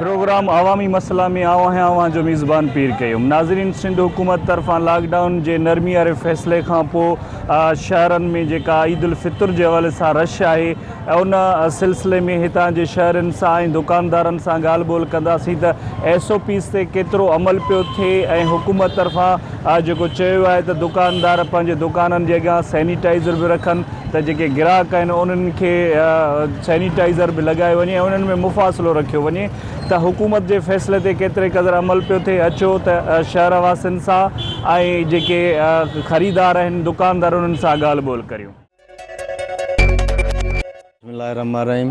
Programme عوامي مسئلا ۾ آئون آهيان اوهان جو ميزبان پير قيوم ناظرين سنڌ حڪومت طرفان لاڪ ڊائون جي نرمي واري فيصلي کانپوء شهرن ۾ جيڪا عيد الفطر جي حوالي سان رش آهي ان سلسلي ۾ هتان جي شهرين سان ۽ دڪاندارن سان ڳالهه ٻولهه ڪنداسين ته ايس او پيز تي ڪيترو عمل پيو ٿئي ۽ حڪومت طرفان جيڪو چيو آهي ته دڪاندار پنهنجي دڪانن جي اڳيان سينيٽائيزر به رکن ته جيڪي گراهڪ آهن انهن کي سينيٽائيزر به لڳايو وڃي ۽ انهن ۾ مفاصلو رکيو وڃي ته حڪومت جي فيصلي تي ڪيتري قدر عمل پيو ٿئي اچو ته شهر واسين سان ۽ جيڪي خريدار آهن دڪاندار انهن سان ڳالهه ٻولهه ڪريون. بسم الله الرحمٰن الرحيم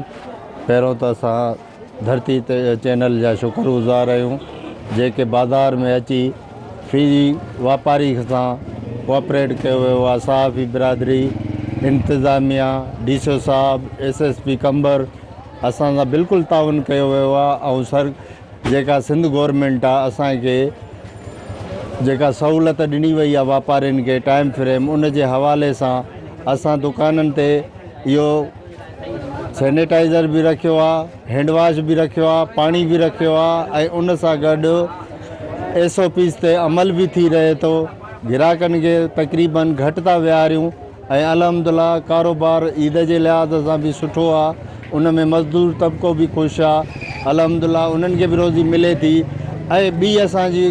پهريون ته اسان ڌرتي چينل جا شڪر گذار آهيون جيڪي بازار ۾ اچي في واپاري سان ڪوآپريٽ ڪيو ويو آهي صحافي برادري انتظاميا ڊي سي او صاحب ايس ايس پي قمبر اسان سان بلڪل تعاون ڪيو ويو آهي ۽ سر جيڪا سنڌ گورنمينٽ آ اسان کي جيڪا سهولت ڏني وئي آ واپارين کي ٽائيم فريم ان جي حوالي سان اسان دڪانن تي اهو سينيٽائزر به رکيو آ هينڊ واش به رکيو آ پاڻي به رکيو آ ۽ ان سان گڏ ايس او پيز تي عمل به ٿي رهي ٿو گراهڪن کي تقريبن گهٽ ٿا ويهاريون. ۽ الحمدالله ڪاروبار عيد جي لحاظ سان به سٺو آ ان ۾ مزدور طبقو به خوش آ الحمدالله انهن کي به روزي ملي ٿي ۽ ٻي اسان جي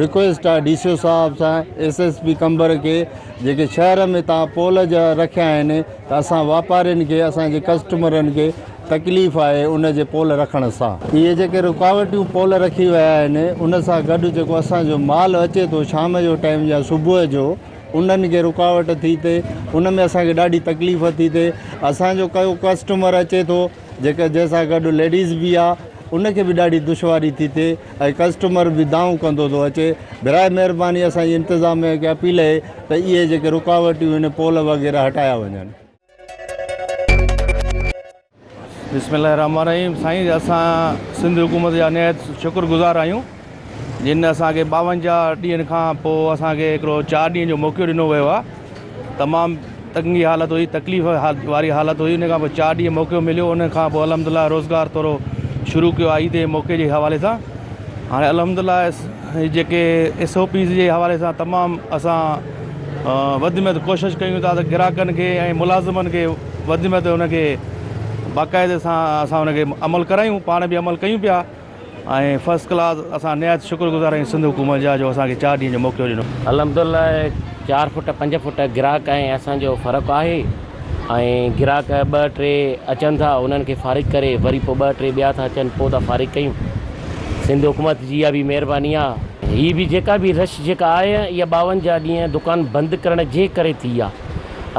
رڪويسٽ آ ڊي سي او صاحب سان ايس ايس پي قمبر کي جيڪي شهر ۾ تان پول جا رکيا آهن ته اسان واپارين کي اسان جي ڪسٽمرن کي تڪليف آهي ان جي پول رکڻ سان اهي جيڪي رڪاوٽيون پول رکي ويا آهن ان سان گڏ جيڪو اسان جو مال اچي ٿو شام جو ٽائيم يا صبح جو انهن کي رڪاوٽ ٿي ٿي ان ۾ اسان کي ڏاڍي تڪليف ٿي ٿي اسان جو ڪيو ڪسٽمر اچي ٿو جيڪا جنهن سان گڏ ليڊيز به آ ان کي به ڏاڍي دشواري ٿي ٿي ۽ ڪسٽمر به دانهون ڪندو ٿو اچي براء مهرباني اسان جي انتظاميه کي اپيل اهي ته اهي جيڪي رڪاوٽيون آهن پول وغيره هٽايا وڃن بسم الله الرحمن الرحيم سائين اسان سنڌ حڪومت جا نهايت شڪر گذار آهيون جن اسان کي ٻاونجاهه ڏينهن کان پوء اسان کي هڪڙو چار ڏينهن جو موقعو ڏنو ويو آهي تمام تنگي حالت هئي تڪليف واري حالت هئي ان کان پوء چار ڏينهن موقعو مليو ان کان پوء الحمد لله روزگار ٿورو شروع ڪيو آهي عيد جي موقعي جي حوالي سان هاڻي الحمد لله هي جيڪي ايس او پيز جي حوالي سان تمام اسان وڌ ۾ وڌ ڪوشش ڪيون ٿا ته گراهڪن کي ۽ ملازمن کي وڌ ۾ وڌ ان کي باقاعدي سان اسان ان کي عمل ڪرايون پاڻ به عمل ڪيون پيا ۽ فرسٽ ڪلاس اسان نهايت شڪر گذار آهيون سنڌ حڪومت جا جو اسان کي چار ڏينهن جو موقعو ڏنو. الحمدالله چار فوٽ پنج فوٽ گراهڪ ۽ اسان جو فرق آهي. ۽ گراهڪ ٻه ٽي اچن ٿا انهن کي فارغ ڪري وري پوء ٻه ٽي ٻيا ٿا اچن پوء ٿا فارغ ڪيون سنڌ حڪومت جي اها به مهرباني آهي. هي به جيڪا به رش جيڪا آهي اها ٻاونجاهه ڏينهن دڪان بند ڪرڻ جي ڪري ٿي آهي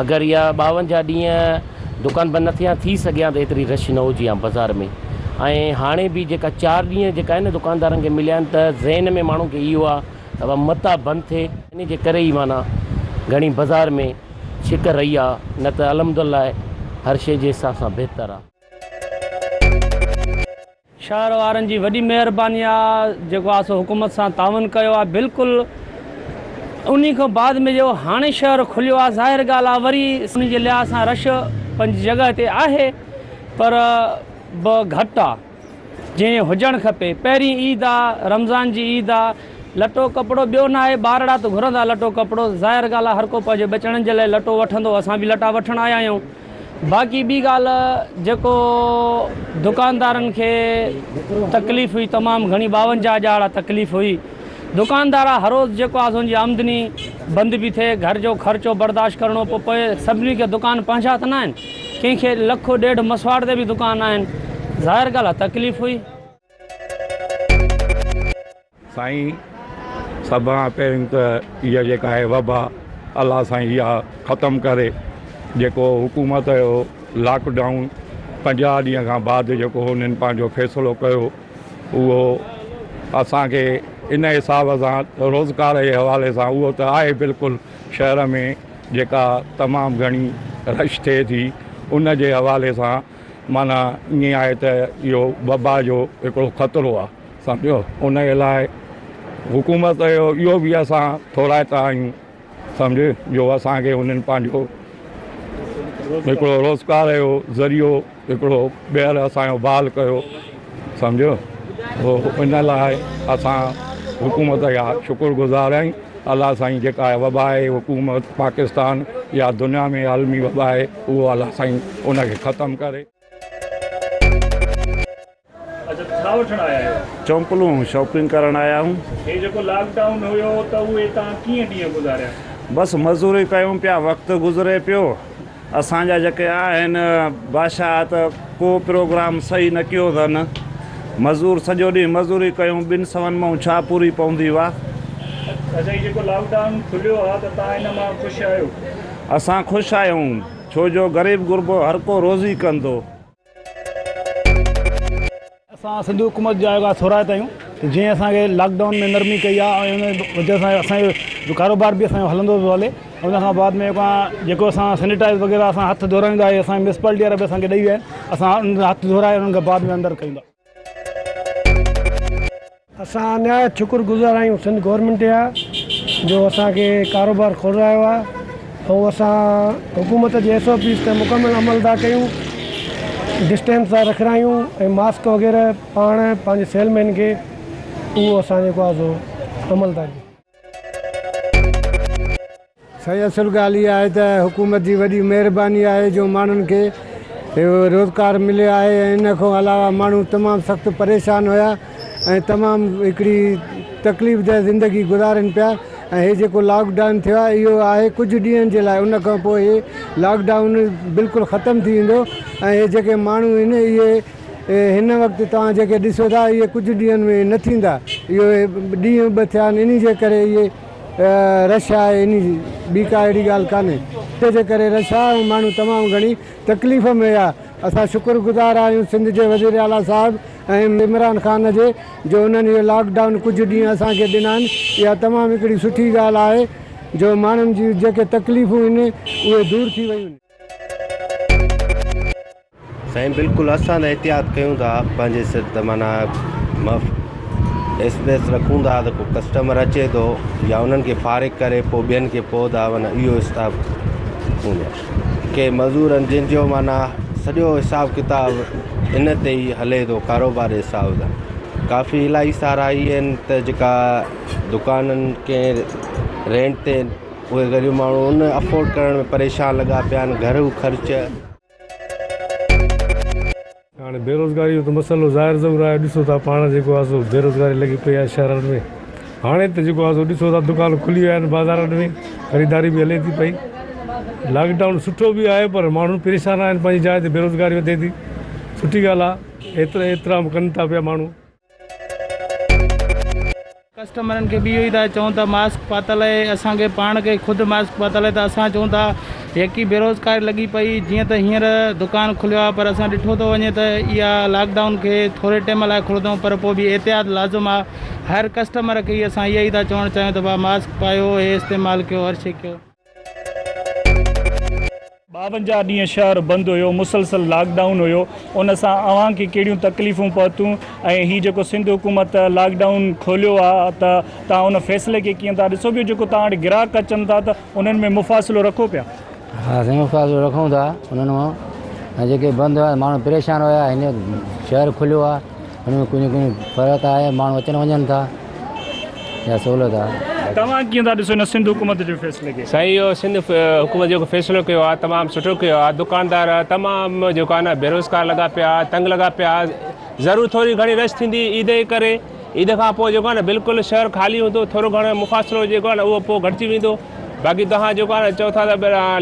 اگر اها ٻاونجاهه ڏينهن دڪان بند نه ٿي ها ٿي سگهي ها ته ايتري رش نه هجي ها بزار ۾ ۽ هاڻي به جيڪا چار ڏينهن جيڪا آهن دڪاندارن کي مليا آهن ته ذهن ۾ ماڻهن کي اهو آهي ته متان بند ٿي انهي جي ڪري ئي معنيٰ گهڻي بزار ۾ شڪر رهي آ نه ته الحمدالله هر شي جي حساب سان بهتر آ. شهر وارن جي وڏي مهرباني آ جيڪو آ سو حڪومت سان تعاون ڪيو آ بلڪل انهي کان بعد ۾ جو هاڻي شهر کليو آ ظاهر ڳالهه آ وري سنڌ جي لحاظ سان رش پنهنجي جڳهه تي آهي پر به گهٽ آ. جيئن هجڻ کپي. پهرين عيد آ، رمضان جي عيد آ، لٽو ڪپڙو ٻيو ناهي، ٻارڙا ته گهرندا لٽو ڪپڙو، ظاهر ڳالهه آ هر ڪو پنهنجي ٻچڙن جي لاء لٽو وٺندو، اسان به لٽا وٺڻ آيا آهيون، باقي ٻي ڳالهه جيڪو دڪاندارن کي تڪليف هئي تمام گهڻي ٻاونجاهه ڄاڙا تڪليف هئي. دڪاندارا هروز جيڪو آ سون جي آمدني بند پي ٿئي گهر جو خرچو برداشت ڪرڻو پو پوي سڀني کي دڪان پنهنجا ته ناهن ڪنهن کي لک ڏيڍ مسواڙ تي به دڪان آهن ظاهر ڳالهه آ تڪليف هئي. سائين سڀ کان پهرين ته اها جيڪا آهي وبا الله سائين اها ختم ڪري جيڪو حڪومت جو لاڪ ڊائون پنجاهه ڏينهن کان بعد جيڪو هنن پنهنجو فيصلو ڪيو اهو اسان کي ان حساب سان روزگار جي حوالي سان اهو ته آهي بلڪل شهر ۾ جيڪا تمام گهڻي رش ٿئي ٿي ان جي حوالي سان معنيٰ ائين آهي ته اهو وبا جو هڪڙو خطرو آهي سمجهيو ان لاء حڪومت جو اهو بي اسان ٿورائتا آهيون سمجهه جو اسان کي هنن پنهنجو هڪڙو روزگار جو ذريعو هڪڙو ٻيهر اسان جو بحال ڪيو سمجهيو هو ان لاء اسان حڪومت جا شڪر گذار آهيون الله سائين جيڪا وبا آهي حڪومت پاڪستان يا دنيا ۾ عالمي وبا آهي اهو الله سائين ان کي ختم ڪري. اچا ڇا وٺڻ آيا آهيو؟ چونپلون شاپنگ ڪرڻ آيا آهيون. هي جيڪو لاڪ ڊائون هيو ته اهي توهان ڪيئن ڏينهن گذاريا؟ بس مزوري ڪيون پيا وقت گذري پيو اسان جا جيڪي آهن بادشاهه ته ڪو پروگرام صحيح نه ڪيو اٿن مزور سڄو ڏينهن مزوري ڪيون ٻن سون مان ڇا پوري پوندي وا. اچا هي جيڪو لاڪ ڊائون کليو آ ته توهان ان مان خوش آهيو؟ اسان خوش آهيون ڇو جو غريب غربو هر ڪو روزي ڪندو. اسان سنڌي حڪومت جا اهي ٿورائتا آهيون ته جنهن اسان کي لاڪ ڊائون ۾ نرمي ڪئي آهي ۽ ان جي وجه سان اسان جو ڪاروبار به اسان جو هلندو پيو هلي ان کان بعد ۾ جيڪو اسان سينيٽائز وغيره اسان هٿ ڌورائيندا آهيون اسان جي ميونسپالٽي وارا به اسان کي ڏئي ويا آهن اسان ان هٿ ڌورائي ان کان بعد ۾ اندر ڪيون ٿا اسان نهايت شڪر گذار آهيون سنڌ گورنمينٽ جا جو اسان کي ڪاروبار کولرايو آهي ۽ اسان حڪومت جي ايس او پيز تي مڪمل عمل ٿا ڪيون ڊسٽينس ٿا رکرايون ۽ ماسڪ وغيره پاڻ پنهنجي سيل مين کي اهو اسان جيڪو آهي سو عمل ٿا ڪيون سائين اصل ڳالهه اها آهي ته حڪومت جي وڏي مهرباني آهي جو ماڻهن کي روزگار مليو آهي ۽ ان کان علاوه ماڻهو تمام سخت پريشان هيا ۽ تمام هڪڙي تڪليف ده زندگي گذارين پيا ۽ هي جيڪو لاڪ ڊائون ٿيو آهي اهو آهي ڪجهه ڏينهن جي لاء ان کان پوء هي لاڪ ڊائون بلڪل ختم ٿي ويندو ۽ هي جيڪي ماڻهو آهن اهي هن وقت توهان جيڪي ڏسو ٿا اهي ڪجهه ڏينهن ۾ نه ٿيندا. اهي ڏينهن به ٿيا آهن انهي جي ڪري اهي رش آهي انهي جي ٻي ڪا اهڙي ڳالهه ڪانهي. ان جي ڪري رش آهي ۽ ماڻهو تمام گهڻي تڪليف ۾ آهي. اسان شڪر گذار آهيون سنڌ جي وزير اعليٰ صاحب ۽ عمران خان جي جو انهن اهي لاڪ ڊائون ڪجهه ڏينهن اسان کي ڏنا آهن اها تمام هڪڙي سٺي ڳالهه آهي جو ماڻهن جون جيڪي تڪليفون هن اهي دور ٿي ويون. سائين بلڪل اسان ته احتياط ڪيون ٿا پنهنجي سر ته معنيٰ مف اسپيس رکون ٿا ته ڪو ڪسٽمر اچي ٿو يا انهن کي فارغ ڪري پوء ٻين کي پوء ٿا معنيٰ اهو حساب هوندو آهي ڪي مزورن جن جو معنيٰ سڄو حساب ڪتاب ان تي ئي هلي ٿو ڪاروبار جي حساب سان ڪافي الاهي سارا اهي آهن ته جيڪا دڪانن ڪنهن رينٽ تي اهي غريب ماڻهو ان افورڊ ڪرڻ ۾ پريشان لڳا پيا آهن گهرو خرچ. هاڻي بيروزگاري جو ته مسئلو ظاهر ظهور آهي ڏسو ٿا پاڻ جيڪو آهي سو بيروزگاري لڳي پئي آهي شهرن ۾ هاڻي ته جيڪو آهي سو ڏسو ٿا دڪان کلي ويا آهن بازارن ۾ خريداري به هلي ٿي پئي لاڪ ڊائون سٺو به آهي پر ماڻهو پريشان آهن پنهنجي جاء تي بيروزگاري وڌي ٿي سٺي ڳالهه آهي احترام ڪن ٿا پيا ماڻهو. ڪسٽمرن کي به اهو ئي ٿا چئون ته ماسڪ پاتل اهي اسان کي پاڻ کي خود ماسڪ پاتل اهي ته اسان چئون ٿا يڪي بيروزگاري لڳي پئي جيئن ته هينئر دڪان کليو آهي پر اسان ڏٺو ٿو وڃي ته اها لاڪ ڊائون کي ٿوري ٽيم لاء کولندو پر پوء به احتياط لازم آهي هر ڪسٽمر کي اسان اهو ئي ٿا چوڻ چاهيون ته ڀا ماسڪ پايو هي استعمال ڪيو هر شي ڪيو ٻاونجاهه ڏينهن شهر بند هيو مسلسل لاڪ ڊائون هيو ان سان اوهان کي ڪهڙيون تڪليفون پهتون ۽ هي جيڪو سنڌ حڪومت لاڪ ڊائون کوليو آ ته توهان ان فيصلي کي ڪيئن ٿا ڏسو ٻيو جيڪو توهان وٽ گراهڪ اچن ٿا ته انهن ۾ مفاصلو رکو پيا. ها سائين مفاصلو رکون ٿا انهن مان ۽ جيڪي بند هيا ماڻهو پريشان هيا هينئر شهر کليو آ ان ۾ ڪنهن ڪنهن فرق آهي ماڻهو اچن وڃن ٿا يا سهولت آهي. توهان ڪيئن ٿا ڏسو ان سنڌ حڪومت جي فيصلي کي؟ سائين اهو سنڌ حڪومت جيڪو فيصلو ڪيو آهي تمام سٺو ڪيو آهي دڪاندار تمام جيڪو آهي نه بيروزگار لڳا پيا آهي تنگ لڳا پيا آهي ضرور ٿوري گهڻي رش ٿيندي عيد جي ڪري عيد کان پوء جيڪو آهي نه بلڪل شهر خالي هوندو ٿورو گهڻو مفاصلو جيڪو آهي نه اهو پوء گهٽجي ويندو باقي توهان جيڪو آهي نه چئو ٿا ته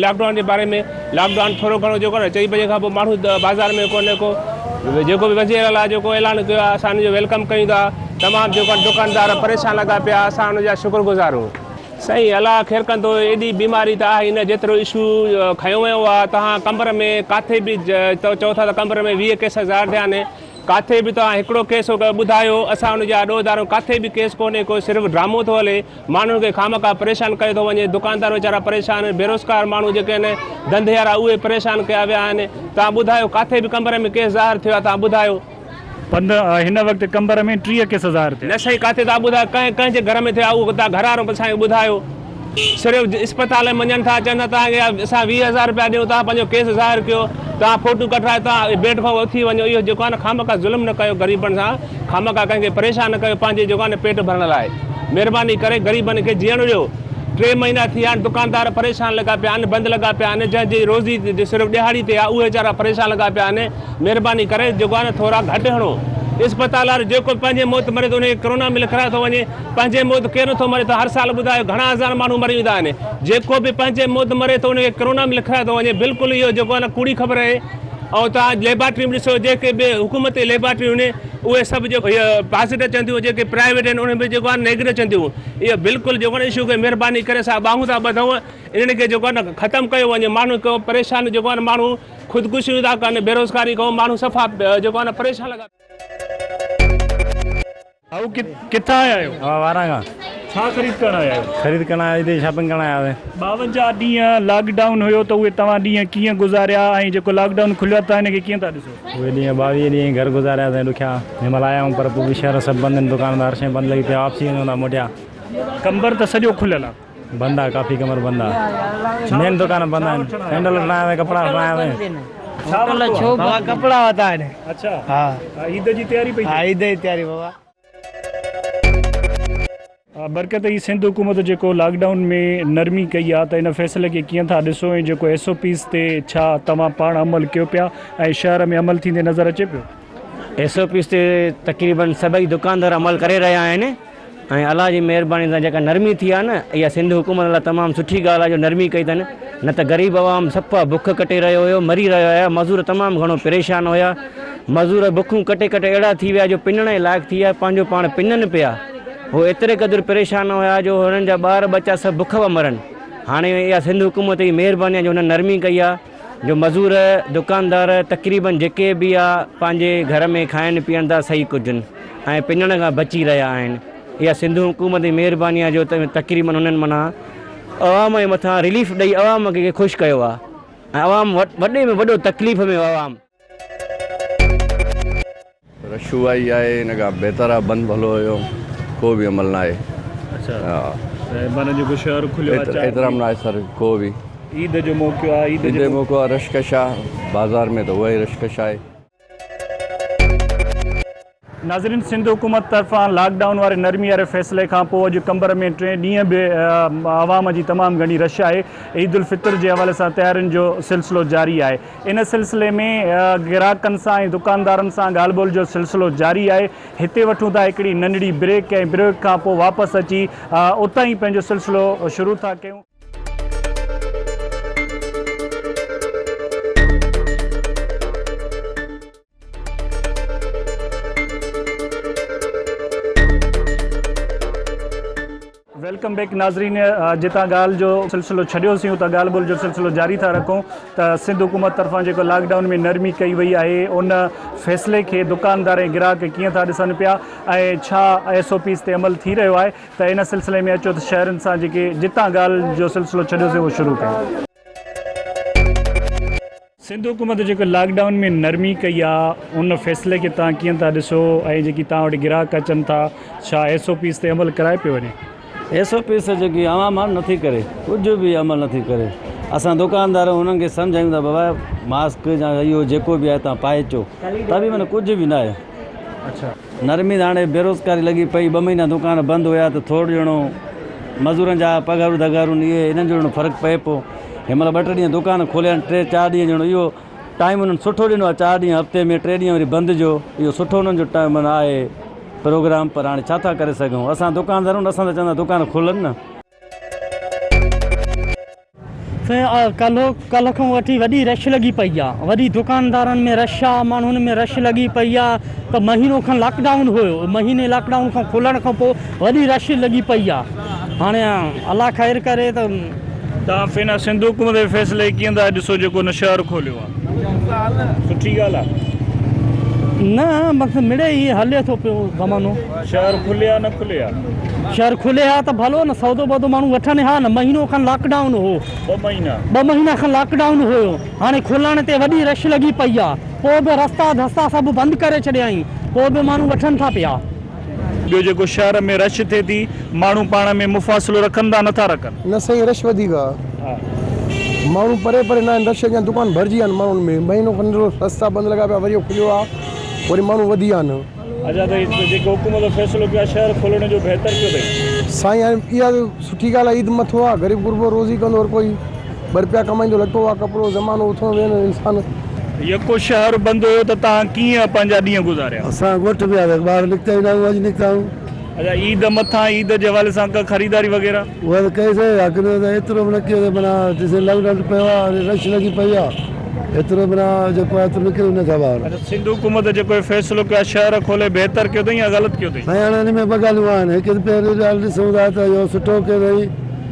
لاڪ ڊائون جي باري ۾ لاڪ ڊائون ٿورو گهڻو جيڪو آهي نه چئي بجي کان پوء ماڻهو بازار ۾ ڪونه ڪو جيڪو به وزير اعليٰ جيڪو اعلان ڪيو آهي اسان ان جو ويلڪم ڪيون ٿا تمام جيڪو آهي دڪاندار پريشان لڳا پيا اسان ان جا شڪر گذار آهيون. سائين الله خير ڪندو ايڏي بيماري ته آهي ئي نه جيترو اشو کنيو ويو آهي توهان قمبر ۾ ڪاٿي به تو چئو ٿا ته قمبر ۾ ويهه ڪيس ظاهر ٿيا آهن ڪاٿي به توهان هڪڙو ڪيس ٻڌايو اسان ان جا ڏوهه ڌارون ڪاٿي به ڪيس ڪونهي ڪو صرف ڊرامو ٿو هلي ماڻهن کي خامخواهه پريشان ڪيو ٿو وڃي، دڪاندار ويچارا پريشان آهن، بيروزگار ماڻهو جيڪي آهن، ڌنڌيئارا اهي پريشان ڪيا ويا آهن، توهان ٻڌايو ڪاٿي به قمبر ۾ ڪيس ظاهر ٿيو آهي توهان ٻڌايو. پنڌ هن وقت قمبر ۾ ٽيهه ڪيس ظاهر ٿيا. نه سائين ڪاٿي توهان ٻڌايو ڪنهن ڪنهن جي گهر ۾ ٿيا اهو توهان گهر وارو اسان کي ٻڌايو صرف اسپتال ۾ وڃن ٿا چون ٿا توهان کي اسان ويهه هزار روپيا ڏيون توهان پنهنجو ڪيس ظاهر ڪيو توهان فوٽو ڪڍرائي توهان بيڊ کان اٿي وڃو اهو جيڪو آهي نه خامخواهه ظلم نه ڪيو غريبن سان. خامخا ڪنهن کي پريشان نه ڪيو پنهنجي جوڳائن پيٽ ڀرڻ لاء مهرباني ڪري غريبن کي جيئڻ ڏيو ٽي مهينا ٿي ويا آهن دڪاندار پريشان لڳا پيا آهن بند لڳا پيا آهن جنهن جي روزي صرف ڏهاڙي تي آهي اهي ويچارا پريشان لڳا پيا آهن مهرباني ڪري جوڳائن ٿورا گهٽ هڻو اسپتال وارو جيڪو به پنهنجي موت مري ٿو ان کي ڪرونا ۾ لکرايو ٿو وڃي پنهنجي موت ڪير نه ٿو مري ٿو هر سال ٻڌايو گهڻا هزار ماڻهو مري ويندا آهن جيڪو به پنهنجي موت مري ٿو ان کي ڪرونا ۾ لکرايو ٿو وڃي بلڪل اهو جيڪو آهي نه ڪوڙي خبر اهي ۽ توهان ليبارٽريون به ڏسو جيڪي به حڪومتي ليبارٽريون آهن اهي سڀ جيڪو اهي پازيٽو اچن ٿيون جيڪي پرائيويٽ آهن انهن ۾ جيڪو آهي نيگيٽو اچن ٿيون اهي بلڪل جيڪو آهي اشو کي مهرباني ڪري اسان ٻانهون ٿا ٻڌون انهن کي جيڪو آهي ختم ڪيو وڃي ماڻهو ڪيو پريشان جيڪو آهي ماڻهو خودڪشيون ٿا ڪن بيروزگاري کان ماڻهو صفا جيڪو آهي پريشان لڳا ڀائو ڪٿان آيا آهيو؟ اوهان واران کان. ڇا خريد ڪرڻ آيا آهيو؟ خريد ڪرڻ آيا هتي شاپنگ ڪرڻ آيا هئي. ٻاونجاهه ڏينهن لاڪ ڊائون هيو ته اهي توهان ڏينهن ڪيئن گذاريا ۽ جيڪو لاڪ ڊائون کليو آهي توهان ان کي ڪيئن ٿا ڏسو؟ اهي ڏينهن ٻاويهه ڏينهن گهر گذاريا سائين ڏکيا جنهن مهل آيا آهيون پر پوء به شهر سڀ بند آهن دڪان ڌار شين بند لڳي پيا واپسي وڃون ٿا موٽيا. قمبر ته سڄو کليل آهي. بند آ ڪافي ڪمر بند آ مين دڪان بند آهن سينڊل وٺڻا آيا سين ڪپڙا وٺڻا آيا سين. هوٽل ڇو بند آهن ڪپڙا وتا آهن اڇا ها عيد جي تياري پئي ها عيد جي تياري بابا. برڪت هي سنڌ حڪومت جيڪو لاڪ ڊائون ۾ نرمي ڪئي آ ته ان فيصلي کي ڪيئن ٿا ڏسو ۽ جيڪو ايس او پيز تي ڇا توهان پاڻ عمل ڪيو پيا ۽ شهر ۾ عمل ٿيندي نظر اچي پيو. ايس او پيز تي تقريبن سڀئي دڪاندار عمل ڪري رهيا آهن. ۽ الله جي مهرباني سان جيڪا نرمي ٿي آهي نه اها سنڌ حڪومت لاء تمام سٺي ڳالهه آهي جو نرمي ڪئي اٿن نه ته غريب عوام سفا بک ڪٽي رهيو هيو مري رهيا هيا مزور تمام گهڻو پريشان هيا مزور بکون ڪٽي ڪٽي اهڙا ٿي ويا جو پنڻ جي لائق ٿي آهي پنهنجو پاڻ پنن پيا هو ايتري قدر پريشان هيا جو هنن جا ٻار ٻچا سڀ بک پيا مرن هاڻي اها سنڌ حڪومت جي مهرباني آهي جو هنن نرمي ڪئي آهي. جو مزور، دڪاندار تقريبن جيڪي به آ پنهنجي گهر ۾ کائن پيئن ٿا سهي ڪجن ۽ پڃڻ کان بچي رهيا آهن اها سنڌو حڪومت جي مهرباني آ جو تقريبن انهن معنيٰ عوام جي مٿان رليف ڏئي عوام کي خوش ڪيو آ ۽ عوام وڏي ۾ وڏو تڪليف ۾ عوام. رشوائي آهي ان کان بهتر آهي بند ڀلو هيو ڪو به عمل ناهي احترام ناهي سر ڪو به عيد جو موقعو آهي عيد جو موقعو آهي رش ڪش آهي بازار ۾ ته اهو ئي رش ڪش آهي. ناظرين سنڌ حڪومت طرفان لاڪ ڊائون واري نرمي واري فيصلي کان پوء اڄ قمبر ۾ ٽين ڏينهن به عوام جي تمام گهڻي رش آهي عيد الفطر جي حوالي سان تيارين جو سلسلو جاري آهي ان سلسلي ۾ گراهڪن سان ۽ دڪاندارن سان ڳالهه ٻولهه جو سلسلو جاري آهي هتي وٺون ٿا هڪڙي ننڍڙي بريڪ ۽ بريڪ کان پوء واپس اچي اتان ئي پنهنجو سلسلو شروع ٿا ڪيون. ويلڪم بيڪ ناظرين جتان ڳالهه جو سلسلو ڇڏيو سيون ته ڳالهه ٻولهه جو سلسلو جاري ٿا رکون ته سنڌ حڪومت طرفان جيڪو لاڪ ڊائون ۾ نرمي ڪئي وئي آهي ان فيصلي کي دڪاندار ۽ گراهڪ ڪيئن ٿا ڏسن پيا ۽ ڇا ايس او پيز تي عمل ٿي رهيو آهي ته ان سلسلي ۾ اچو ته شهرين سان جيڪي جتان ڳالهه جو سلسلو ڇڏيو سيون اهو شروع ڪيون سنڌ حڪومت جيڪو لاڪ ڊائون ۾ نرمي ڪئي آ ان فيصلي کي توهان ڪيئن ٿا ڏسو ۽ جيڪي توهان وٽ گراهڪ اچن ٿا ڇا ايس او پيز تي عمل ڪرايو پيو وڃي. ايس او پيز تي جيڪي عوام آ نٿي ڪري ڪجهه به عمل نٿي ڪري اسان دوڪاندار انهن کي سمجهايون ٿا بابا ماسڪ يا اهو جيڪو به آهي توهان پائي اچو ته به معنيٰ ڪجهه به ناهي. نرمي هاڻي بيروزگاري لڳي پئي، ٻه مهينا دوڪان بند هيا ته ٿورڙ ڄڻو مزورن جا پگهارون ڌگهارون اهي انهن جو ڄڻو فرق پئي پيو. هن مهل ٻه ٽي ڏينهن دوڪان کوليا آهن، ٽي چار ڏينهن ڄڻو اهو ٽائيم انهن سٺو ڏنو آهي، چار ڏينهن هفتي ۾ ٽي ڏينهن وري بند جو اهو سٺو انهن جو ٽائيم آهي پروگرام پر هاڻي ڇا ٿا ڪري سگهون اسان دوڪاندارون اسان ته چوندا دوڪان کولن نه. سائين ڪلهه کان وٺي وڏي رش لڳي پئي آ وڏي دڪاندارن ۾ رش آ ماڻهن ۾ رش لڳي پئي آ ته مهينو کن لاڪ ڊائون هيو مهيني لاڪ ڊائون کان کلڻ کان پوء وڏي رش لڳي پئي آ هاڻي الله خير ڪري ته تان فينا سنڌ حڪومت جي فيصلي ڪيئن ٿا ڏسو جيڪو نشهر کوليو آ. سٺي ڳالهه آ. نه بس مڙئي هي هلي ٿو پيو زمانو. شهر کلي ها نه کلي ها. شهر کلي ها ته ڀلو نه سودو ٻودو ماڻهو وٺن ها نه مهينو کن لاڪ ڊائون هو. ٻه مهينا. ٻه مهينا کن لاڪ ڊائون هيو هاڻي کلڻ تي وڏي رش لڳي پئي آ پو به رستا ڌستا سڀ بند ڪري ڇڏيائين پو به ماڻهو وٺن ٿا پيا. ٻيو جيڪو شهر ۾ رش ٿئي ٿي ماڻهو پاڻ ۾ مفاصلو رکن ٿا نٿا رکن. نه سائين رش وڌيڪ آ ماڻهو پري پري ناهن رش اڳيان دڪان ڀرجي ويا آهن ماڻهن ۾ مهينو کن ڏيڍ ٿيو رستا بند لڳا پيا وري کليو آ وري ماڻهو وڌي ويا آهن. اچا ته هي جيڪو حڪومت جو فيصلو ڪيو آهي شهر کولڻ جو بهتر ڪيو اٿئي. سائين هاڻي اها سٺي ڳالهه آ عيد مٿو آ غريب غربو روزي ڪندو هر ڪوئي. ٻه رپيا ڪمائيندو لٽو آ ڪپڙو زمانو اٿڻو ويهڻو انسان. يڪو شهر بند هيو ته توهان ڪيئن پنهنجا ڏينهن گذاريا؟ اسان ڳوٺ ۾ وياسي ٻاهر نڪتا ئي نه آهيون اڄ نڪتا آهيون. اچا عيد مٿان عيد جي حوالي سان ڪا خريداري وغيره؟ اها ته ڪئي سين يا ڪنهن ته ايترو به نه ڪيو سين معنيٰ جيسين لاڪ ڊائون پيو آهي هاڻي رش لڳي پئي آهي ايترو معنيٰ جيڪو آهي ايترو نڪري نه سگهبا آهن. اچا سنڌ حڪومت جيڪو هي فيصلو ڪيو آهي شهر کولي بهتر ڪيو اٿئي يا غلط ڪيو اٿئي؟ سائين هاڻي ان ۾ ٻه ڳالهيون آهن هڪ ته پهرين ڳالهه ڏسون ٿا ته اهو سٺو ڪيو اٿئي.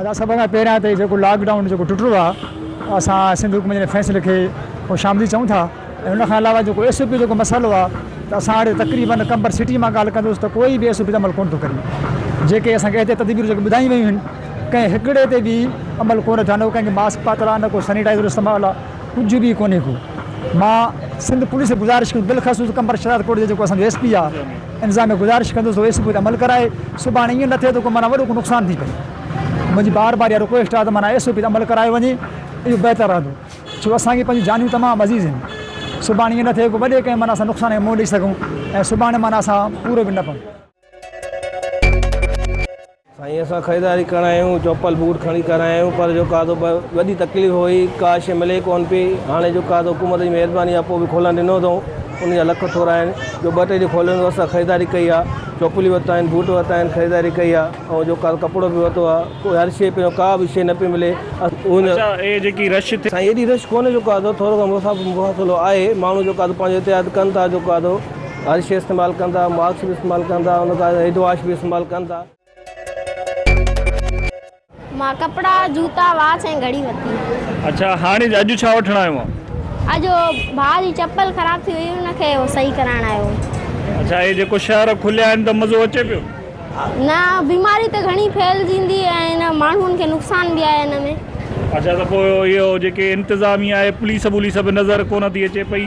ادا سڀ کان پهريان ته جيڪو لاڪ ڊائون جيڪو ٽٽو آ اسان سنڌ حڪومت جي فيصلي کي خوش آمديد چئون ٿا ۽ ان کان علاوه جيڪو ايس او پي جيڪو مسئلو آ ته اسان هاڻي تقريبن قمبر سٽي مان ڳالهه ڪندوس ته ڪوئي به ايس او پي تي عمل ڪونه ٿو ڪري جيڪي اسان کي احتياط تدبيرون جيڪي ٻڌايون ويون آهن ڪنهن هڪڙي تي به عمل ڪونه ٿيا نه ڪنهن کي ماسڪ پاتل آ نه ڪو سينيٽائزر استعمال آ ڪجهه به ڪونهي ڪو مان سنڌ پوليس کي گذارش ڪندس بلخصوص قمبر شهداد ڪوٽ جي جيڪو اسان جو ايس پي آ انتظام ۾ گذارش ڪندس ته اي سي پي تي عمل ڪرائي سڀاڻي ايئن نه ٿئي ته ڪو معنيٰ وڏو ڪو نقصان ٿي پئي منهنجي بار بار اها رڪويسٽ آهي ته معنيٰ اي سي پي تي عمل ڪرايو وڃي اهو بهتر رهندو ڇو اسان کي پنهنجون جانيون تمام عزيز آهن سڀاڻي ايئن نه ٿئي ڪو وڏي ڪنهن معنيٰ اسان نقصان کي منهن ڏئي سگهون ۽ سڀاڻي معنيٰ اسان پورو به نه پئون. سائين اسان خريداري ڪرڻ آيا آهيون چوپل بوٽ کڻي ڪرڻ آيا آهيون پر جو ڪاڌو وڏي تڪليف هئي ڪا شي ملي ڪون پئي هاڻي جو ڪاڌو حڪومت جي مهرباني آهي پوء به کولڻ ڏنو اٿئون ان جا لک ٿورا آهن جو ٻه ٽي ڏينهن کوليو هوندو اسان خريداري ڪئي آهي چوپليون ورتيون آهن بوٽ ورتا آهن خريداري ڪئي آهي ۽ جو ڪاڌو ڪپڙو به ورتو آهي ڪو هر شي پيو ڪا به شي نه پئي ملي اسان سائين ايڏي رش ڪونهي جو ڪاڌو ٿورو گهڻو مسافرو آهي ماڻهو جو ڪاڌو پنهنجو احتياط ڪن ٿا جو ڪاڌو ارش استعمال ڪن ٿا، مارڪس به استعمال ڪن ٿا، ان کان سواء ايڊ واش به استعمال ڪن ٿا. مان ڪپڙا، جوتا، واچ ۽ گهڙي ورتي. اڇا هاڻي اڄ ڇا وٺڻ آيو آن؟ اڄ ڀاء جي چپل خراب ٿي هئي ان کي صحيح ڪرائڻ آيو هوم. اڇا هي جيڪو شهر کليا آهن ته مزو اچي پيو؟ نه بيماري ته گهڻي ڦهلجندي ۽ ماڻهن کي نقصان به آهي ان ۾. اڇا ته پوء اهو جيڪي انتظاميه آهي پوليس ٻوليس به نظر ڪونه ٿي اچي پئي.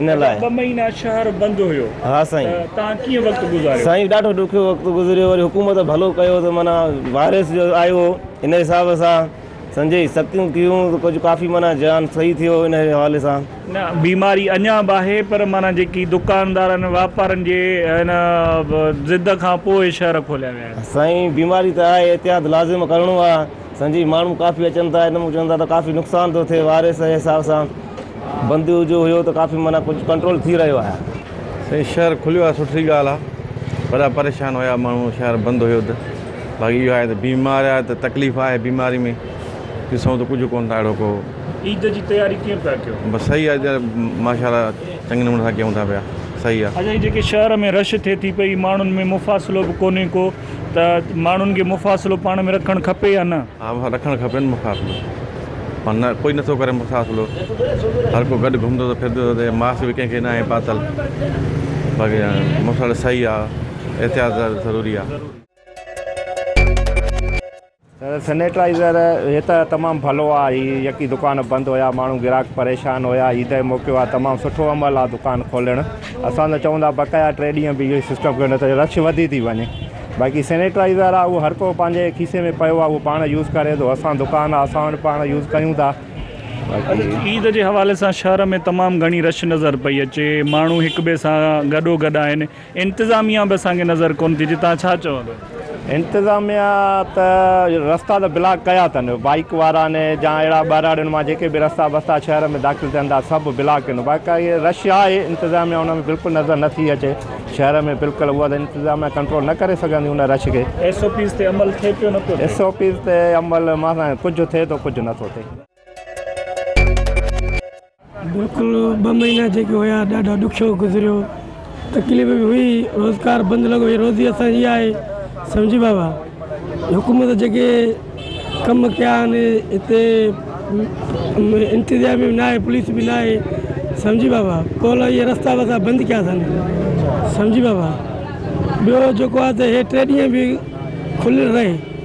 ان لاء. ٻه مهينا شهر بند هيو ته توهان ڪيئن وقت گذاريو؟ سائين ڏاڍو ڏکيو وقت گذريو وري حڪومت ڀلو ڪيو ته معنيٰ وائرس جو آيو هو ان حساب سان سنجهي سختيون ڪيون ته ڪجهه ڪافي معنيٰ جيان صحيح ٿيو ان حوالي سان. نه بيماري اڃان به آهي پر معنيٰ جيڪي دڪاندارن واپارن جي ان ضد کان پوء شهر کوليا ويا آهن. سائين بيماري ته آهي احتياط لازم ڪرڻو آهي. سان جي ماڻهو ڪافي اچن ٿا ان مون چون ٿا ته ڪافي نقصان ٿو ٿئي واريس جي حساب سان بندي جو هيو ته ڪافي معنيٰ ڪجهه ڪنٽرول ٿي رهيو آهي. سائين شهر کليو آهي سٺي ڳالهه آهي وڏا پريشان هيا ماڻهو شهر بند هيو ته باقي اهو آهي ته بيمار آهي ته تڪليف آهي بيماري ۾ ڏسون ته ڪجهه ڪونه ٿا اهڙو ڪو عيد جي تياري ڪيئن پيا ڪيو. بس صحيح آ جي ماشاءالله چڱي نموني سان ڪيون ٿا پيا صحيح آ. اجي جيڪي شهر ۾ رش ٿئي ٿي پئي ماڻهن ۾ مفاصلو به ڪونهي ڪو. ته ماڻهن کي مفاصلو پاڻ ۾ رکڻ کپي يا نه؟ ها ڀا رکڻ کپي نه مفاصلو پر نه ڪوئي نٿو ڪري مفاصلو هر ڪو گڏ گهمندو ٿو ڦرندو ٿو ته ماسڪ به ڪنهن کي ناهي پاتل باقي مفاصلو صحيح آهي احتياط ضروري آهي. سينيٽائيزر هي ته تمام ڀلو آ هي يڪي دڪان بند هيا ماڻهو گراهڪ پريشان هيا عيد جو موقعو آ تمام سٺو عمل آ دڪان کولڻ اسان ته چون ٿا بقايا ٽي ڏينهن به اهو سسٽم ڪيو نه ته رش وڌي ٿي وڃي باقي سينيٽائيزر آ اهو هر ڪو پنهنجي کيسي ۾ پيو آ اهو پاڻ يوز ڪري ٿو اسان دڪان آ اسان وٽ پاڻ يوز ڪيون ٿا باقي عيد جي حوالي سان شهر ۾ تمام گهڻي رش نظر پئي اچي ماڻهو هڪ ٻئي سان گڏو گڏ آهن انتظاميا به اسان کي نظر ڪون ٿي اچي تهان ڇا چوندو. انتظاميا ته رستا ته بلاڪ ڪيا تن بائيڪ واران جا اهڙا ٻهراڙين مان جيڪي به رستا بستا شهر ۾ داخل ٿين ٿا سڀ بلاڪ ڪين باقائي رش آهي انتظاميا ان ۾ بلڪل نظر نه ٿي اچي شهر ۾ بلڪل اها ته انتظاميا ڪنٽرول نه ڪري سگهندي ان رش کي. ايس او پيز تي عمل ٿي پيو نٿو ٿي. ايس او پيز تي عمل مان سان ڪجهه ٿي ٿو ڪجهه نٿو ٿي. بلڪل ٻه مهينا جيڪي هيا ڏاڍا ڏکيو گذريو تڪليف به هئي روزگار بند لڳو هي روزي اسانجي اها آهي سمجهي بابا حڪومت جيڪي ڪم ڪيا آهن هتي انتظام به نه آهي پوليس به نه آهي سمجهي بابا ڪول اهي رستا وستا بند ڪيا اٿن سمجهي بابا ٻيو جيڪو آهي ته هي ٽي ڏينهن به کليل رهي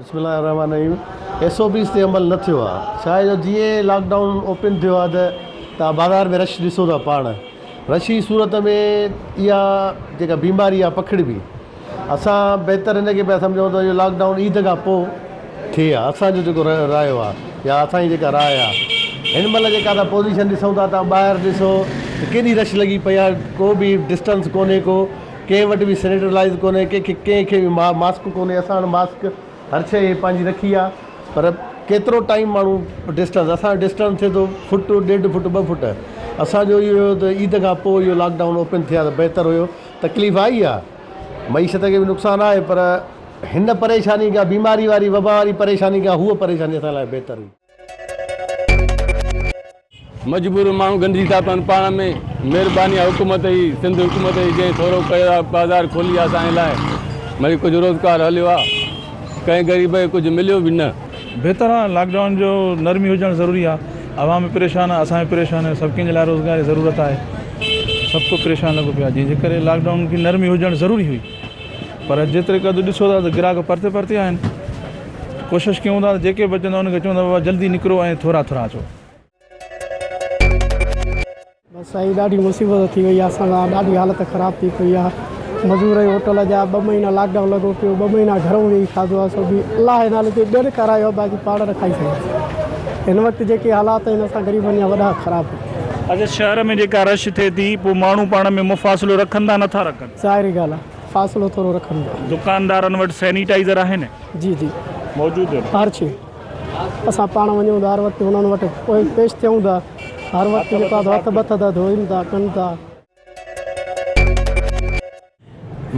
بسم الله الرحمٰن الرحيم ايس او پيز تي عمل نه ٿيو آهي ڇاهي جو جيئن ئي لاڪ ڊائون اوپن ٿيو آهي ته توهان بازار ۾ رش ڏسو ٿا پاڻ رش جي صورت ۾ اها جيڪا بيماري آهي پکڙبي اسان بهتر ان کي پيا سمجهون ته اهو لاڪ ڊائون عيد کان پوء ٿئي ها اسان جو جيڪو رايو آهي يا اسان جي جيڪا راء آهي هن مهل جيڪا اسان پوزيشن ڏسون ٿا توهان ٻاهر ڏسو ته ڪيڏي رش لڳي پئي آهي ڪو به ڊسٽنس ڪونهي ڪو ڪنهن وٽ به سينيٽرلائز ڪونهي ڪنهن کي ڪنهن کي به ماسڪ ڪونهي اسان وٽ ماسڪ هر شئي هي پنهنجي رکي آ پر ڪيترو ٽائيم ماڻهو ڊسٽنس اسان جو ڊسٽنس ٿئي ٿو فٽ ڏيڍ فٽ ٻه فٽ اسان جو اهو هو ته عيد کان پوء اهو لاڪ ڊائون اوپن ٿئي ها ته بهتر هيو تڪليف آئي آ معيشت کي به نقصان آهي پر هن پريشاني کان بيماري واري وبا واري پريشاني کان هوء پريشاني اسان لاء بهتر هئي مجبور ماڻهو گندي ٿا پون پاڻ ۾ مهرباني آ حڪومت جي سنڌ حڪومت جي جنهن ٿورو ڪيو آ بازار کولي آ اسان جي لاء ڀلي ڪجهه روزگار هليو آ ڪنهن غريب کي ڪجهه مليو به نه. بهتر آ لاڪ ڊائون جو نرمي هجڻ ضروري آ عوام به پريشان آ اسان به پريشان آهيون سڀ ڪنهن جي لاء روزگار جي ضرورت آهي سڀ ڪو پريشان لڳو پيو آ جنهن جي ڪري لاڪ ڊائون کي نرمي هجڻ ضروري هئي پر جيتري قد ڏسو ٿا ته گراهڪ پرتي پرتي آهن. ڪوشش ڪيون ٿا ته جيڪي به اچن ٿا انهن کي چون ٿا بابا جلدي نڪرو ۽ ٿورا ٿورا اچو. سائين ڏاڍي مصيبت ٿي وئي آ اسان سان ڏاڍي حالت خراب ٿي پئي آ مزور ۽ هوٽل جا ٻه مهينا لاڪ ڊائون لڳو پيو ٻه مهينا گهرون ويهي کاڌو آ سو به الله جي نالي تي ٻين کارايو آ باقي پاڻ نه کائي سگهياسين هن وقت جيڪي حالات آهن اسان غريبن جا وڏا خراب ٿي اڄ شهر ۾ جيڪا رش ٿئي ٿي پوء ماڻهو پاڻ ۾ مفاصلو رکن ٿا نه ٿا رکن. ظاهري ڳالهه آ فاصلو ٿورو رکڻ جو. دڪاندارن وٽ سينيٽائيزر آهن؟ جي جي. موجود آهن. هر شي. اسان پاڻ وڃون ٿا هر وقت انهن وٽ پيش ٿيون ٿا. هر وقت جيڪو آهي سو هٿ بٿ ٿا ڌوئن ٿا ڪن ٿا.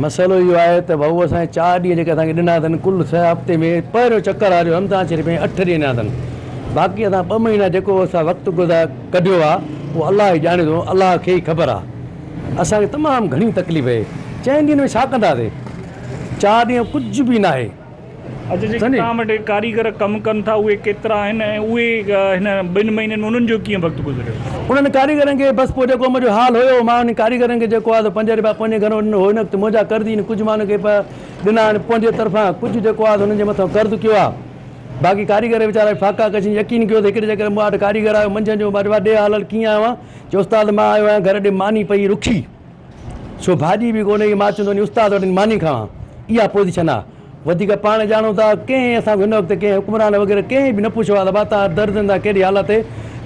مسئلو اهو آهي ته ڀائو اسان جي چار ڏينهن جيڪي اسان کي ڏنا اٿن ڪل سئه هفتي ۾ پهريون چڪر آهي جو رمضان شريف ۾ اٺ ڏينهن ڏنا اٿن باقي اسان ٻه مهينا جيڪو اسان وقت گذار ڪڍيو آهي اهو الله ئي ڄاڻي ٿو الله کي ئي خبر آهي. اسان کي تمام گهڻي تڪليف اهي چئن ڏينهن ۾ ڇا ڪنداسي چار ڏينهن ڪجهه به ناهي. اچا جيڪي توهان وٽ هي ڪاريگر ڪم ڪن ٿا اهي ڪيترا آهن ۽ اهي هن ٻن مهينن ۾ انهن جو ڪيئن وقت گذريو. انهن ڪاريگرن کي بس پوء جيڪو منهنجو حال هيو مان انهن ڪاريگرن کي جيڪو آهي سو پنج رپيا پنهنجي گهرون ڏنو هو انوقت منهنجا قرضي آهن ڪجهه مان انهن کي ڏنا آهن پنهنجي طرفان ڪجهه جيڪو آهي سو انهن جي مٿان قرض ڪيو آهي باقي ڪاريگر ويچارا فاقا ڪشين يقين ڪيو ته هڪڙي جيڪڏهن مون وٽ ڪاريگر آيو منجهند جو ڏي حالت ڪيئن آهي اوهان چي استاد مان آيو آهيان گهر ڏي ماني پئي رکي سو ڀاڄي به ڪونهي ڪي مان اچان ٿو وڃي استاد وٽ ماني کاوان اها پوزيشن آهي وڌيڪ پاڻ ڄاڻو ٿا ڪنهن اسان کي هن وقت ڪنهن حڪمران وغيره ڪنهن به نه پڇيو آهي ته ڀا تان درد ٿا ڪهڙي حالت تي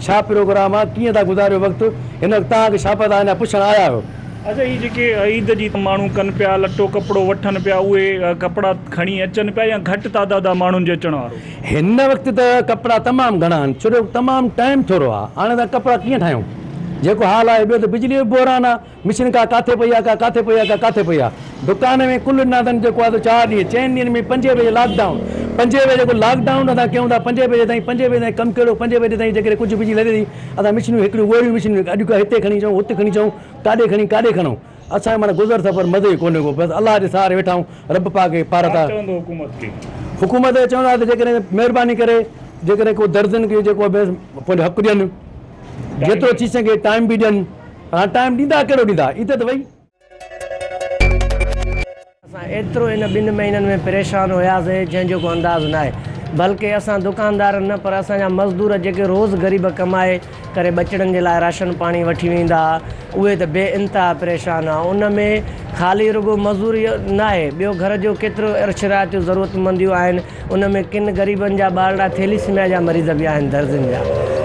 ڇا پروگرام آهي ڪيئن ٿا گذاريو وقت هن وقت تان کي شابت آهي نه پڇڻ آيا آهيو. اچا هي جيڪي عيد جي ماڻهو ڪن پيا لٽو ڪپڙو وٺن پيا اهي ڪپڙا کڻي اچن پيا يا گهٽ تعداد آهي ماڻهن جي اچڻ وارو. هن وقت ته ڪپڙا تمام گهڻا آهن ڇو جو تمام ٽائيم ٿورو آهي هاڻي اسان ڪپڙا ڪيئن ٺاهيون جيڪو حال آهي ٻيو ته بجلي جو به بحران آهي مشين ڪا ڪاٿي پئي آهي ڪا ڪاٿي پئي آهي ڪا ڪاٿي پئي آهي دڪان ۾ ڪل نادن جيڪو آهي سو چار ڏينهن چئن ڏينهن ۾ پنجين بجي لاڪ ڊائون پنجين بجي جيڪو لاڪ ڊائون اسان ڪيون ٿا پنجين بجي تائين پنجين بجي تائين ڪم ڪهڙو پنجين بجي تائين جيڪڏهن ڪجهه بجلي لڳي ٿي اسان مشينون هڪڙيون ڳوريون مشينون اڄ کان هتي کڻي اچون هت کڻي اچون ڪاڏي کڻي ڪاڏي کڻون اسان کي معنيٰ گذر سفر مزي ڪونهي ڪو بس الله جي سهاري ويٺا آهيون رب پاڪ کي پارت آهي. ڇا چوندو حڪومت کي؟ حڪومت کي چوندا ته جيڪڏهن مهرباني ڪري جيڪڏهن ڪو درزين کي جيڪو به پنهنجو حق ڏين جيترو ٿي سگهي ٽائيم به ڏين پر هاڻي ٽائيم ڏيندا ڪهڙو ڏيندا ايت ته وئي. اسان ايترو ان ٻن مهينن ۾ پريشان هياسين جنهن جو ڪو انداز ناهي. بلڪه اسان دڪاندار نه پر اسان جا مزدور جيڪي روز غريب ڪمائي ڪري ٻچڙن جي لاء راشن پاڻي وٺي ويندا ها اهي ته بي انتها پريشان ها ان ۾ خالي رڳو مزوري ناهي ٻيو گهر جو ڪيترو عرش رعايتون ضرورت منديون آهن ان ۾ ڪن غريبن جا ٻارڙا ٿيليسميا جا مريض به آهن درزين جا.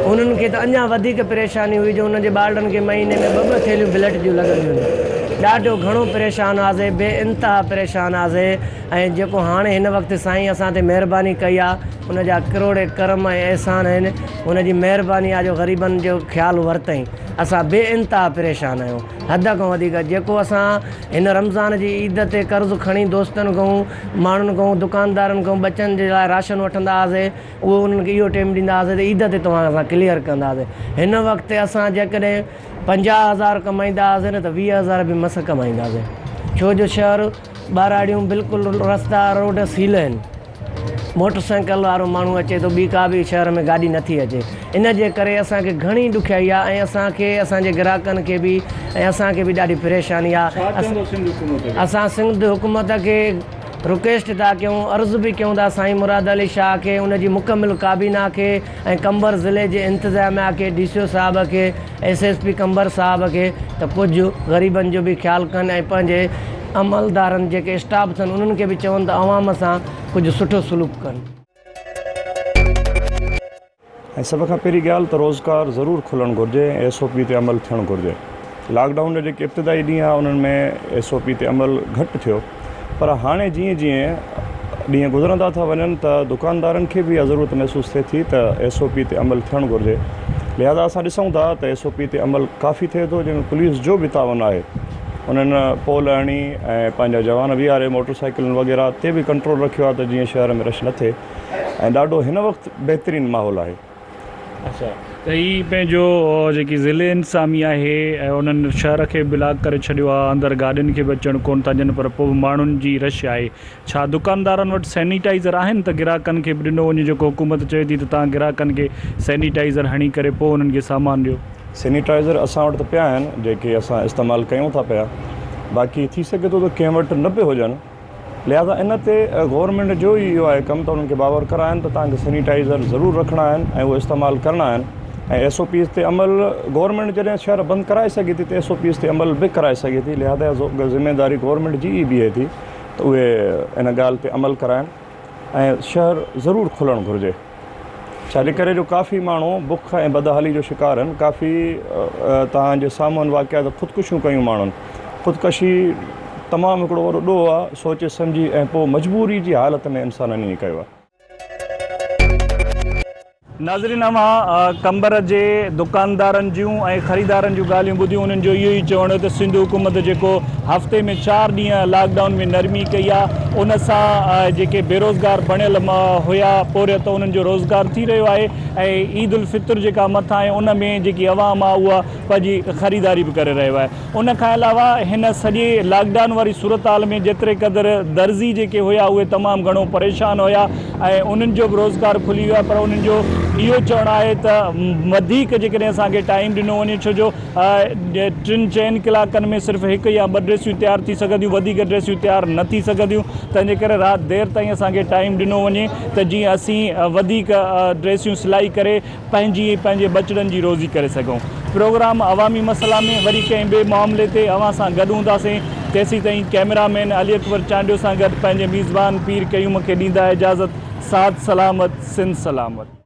انهن کي ته اڃا وڌيڪ پريشاني هئي جو انهن جي ٻارڙن کي مهيني ۾ ٻه ٻه ٿيلهيون بلٽ جون لڳنديون هيون. ڏاڍو گهڻو پريشان هئاسين بي انتها پريشان هئاسين ۽ جيڪو هاڻي هن وقت سائين اسان تي مهرباني ڪئي آ ان جا ڪروڙين ڪرم ۽ احسان آهن ان جي مهرباني آ جو غريبن جو خيال ورتائين اسان بي انتها پريشان آهيون حد کان وڌيڪ جيڪو اسان هن رمضان جي عيد تي قرض کڻي دوستن کان ماڻهن کان دڪاندارن کان ٻچن جي لاء راشن وٺندا هئاسي اهو انهن کي اهو ٽيم ڏيندا هئاسي ته عيد تي توهان اسان ڪليئر ڪنداسي هن وقت تي اسان جيڪڏهن پنجاهه هزار ڪمائيندا هئاسي نه ته ويهه هزار به مس ڪمائينداسي ڇو جو شهر ٻهراڙيون بلڪل رستا روڊ سيل آهن موٽر سائيڪل وارو ماڻهو اچي ٿو ٻي ڪا به شهر ۾ گاڏي نٿي اچي ان جي ڪري اسان کي گهڻي ڏکيائي آ ۽ اسان کي اسان جي گراهڪن کي به ۽ اسان کي به ڏاڍي پريشاني آ اسان سنڌ حڪومت کي رڪويسٽ ٿا ڪيون عرض به ڪيون ٿا سائين مراد علي شاهه کي ان جي مڪمل ڪابينا کي ۽ قمبر ضلعي جي انتظاميا کي ڊي سي او صاحب کي ايس ايس پي قمبر صاحب کي ته ڪجهه غريبن جو به خيال ڪن ۽ پنهنجي عملدارن جيڪي اسٽاف اٿن انهن کي به چون ته عوام سان ڪجهه سٺو سلوڪ ڪن. ۽ سڀ کان پهرين ڳالهه ته روزگار ضرور کلڻ گهرجي ۽ ايس او پي تي عمل ٿيڻ گهرجي لاڪ ڊائون جا جيڪي ابتدائي ڏينهن ها انهن ۾ ايس او پي تي عمل گهٽ ٿيو پر هاڻي جيئن جيئن ڏينهن گذرندا ٿا وڃن ته دڪاندارن کي به اها ضرورت محسوس ٿئي ٿي ته ايس او پي تي عمل ٿيڻ گهرجي لهذا اسان ڏسون ٿا ته ايس او پي تي عمل ڪافي ٿئي ٿو جنهن ۾ پوليس جو به تعاون آهي انهن پول هڻي ۽ پنهنجا جوان بيهاري موٽر سائيڪلن وغيره تي به ڪنٽرول رکيو آهي ته جيئن شهر ۾ رش نه ٿئي ۽ ڏاڍو هن وقت بهترين ماحول آهي. اچا ته هي پنهنجو جيڪي ضلعي انتظاميه آهي انهن شهر کي بلاڪ ڪري ڇڏيو آهي اندر گاڏين کي به اچڻ ڪون ٿا ڏين پر پوء به ماڻهن جي رش آهي ڇا دڪاندارن وٽ سينيٽائزر آهن ته گراهڪن کي به ڏنو وڃي جيڪو حڪومت چوي ٿي ته توهان گراهڪن کي سينيٽائزر هڻي ڪري پوء انهن کي سامان ڏيو. سينيٽائزر اسان وٽ ته پيا آهن جيڪي اسان استعمال ڪيون ٿا پيا باقي ٿي سگهي ٿو ته ڪنهن وٽ نه به هجن لهذا ان تي گورنمينٽ جو ئي اهو آهي ڪم ته انهن کي باور ڪرائن ته توهان کي سينيٽائزر ضرور رکڻا آهن ۽ اهي استعمال ڪرڻا آهن ۽ ايس او پيز تي عمل گورنمينٽ جڏهن شهر بند ڪرائي سگهي ٿي ته ايس او پيز تي عمل به ڪرائي سگهي ٿي لهذا ذميواري گورنمينٽ جي ئي بيهي ٿي ته اهي ان ڳالهه تي عمل ڪرائن ۽ شهر ضرور کلڻ گهرجي ڇاجي ڪري جو ڪافي ماڻهو بک ۽ بدحالي جو شڪار هن ڪافي توهان جي سامهون واقعا ته خودڪشيون ڪيون ماڻهن خودڪشي تمام هڪڙو وڏو ڏوهه آ سوچي سمجهي ۽ پوء مجبوري جي حالت ۾ انسانن ائين ڪيو آ. ناظرين اوهان قمبر جي دڪاندارن جون ۽ خريدارن جون ڳالهيون ٻڌيون انهن جو اهو ئي چوڻ هو ته سنڌ حڪومت جيڪو هفتي ۾ چار ڏينهن لاڪ ڊائون ۾ نرمي ڪئي آهي ان سان جيڪي بيروزگار بڻيل هيا پورهيت انهن جو روزگار ٿي رهيو آهي ۽ عيد الفطر جيڪا مٿان آهي ان ۾ جيڪي عوام آهي اها پنهنجي خريداري به ڪري رهيو آهي ان کان علاوه هن سڄي لاڪ ڊائون واري صورتحال ۾ جيتري قدر درزي جيڪي هيا اهي تمام گهڻو پريشان هيا ۽ انهن جو به روزگار کلي ويو آهي پر انهن جو اهو چوڻ آهي ته وڌيڪ جيڪڏهن اسان کي ٽائيم ڏنو وڃي ڇو جو ٽن چئن ڪلاڪن ۾ صرف هڪ يا ٻه ڊريسيون تيار ٿي سگهنديون وڌيڪ ڊريسيون تيار نه ٿي سگهنديون تنهن جي ڪري رات دير تائين اسان کي ٽائيم ڏنو وڃي ته جيئن اسين وڌيڪ ڊريسيون سلائي ڪري پنهنجي ۽ پنهنجي ٻچڙن جي روزي ڪري سگهون پروگرام عوامي مسئلا ۾ وري ڪنهن ٻئي معاملي تي اوهان سان گڏ هونداسين تيسيتائين ڪئميرا مين علي اڪبر چانڊيو سان گڏ پنهنجي ميزبان پير قيوم کي ڏيندا اجازت ساڌ سلامت سنڌ سلامت.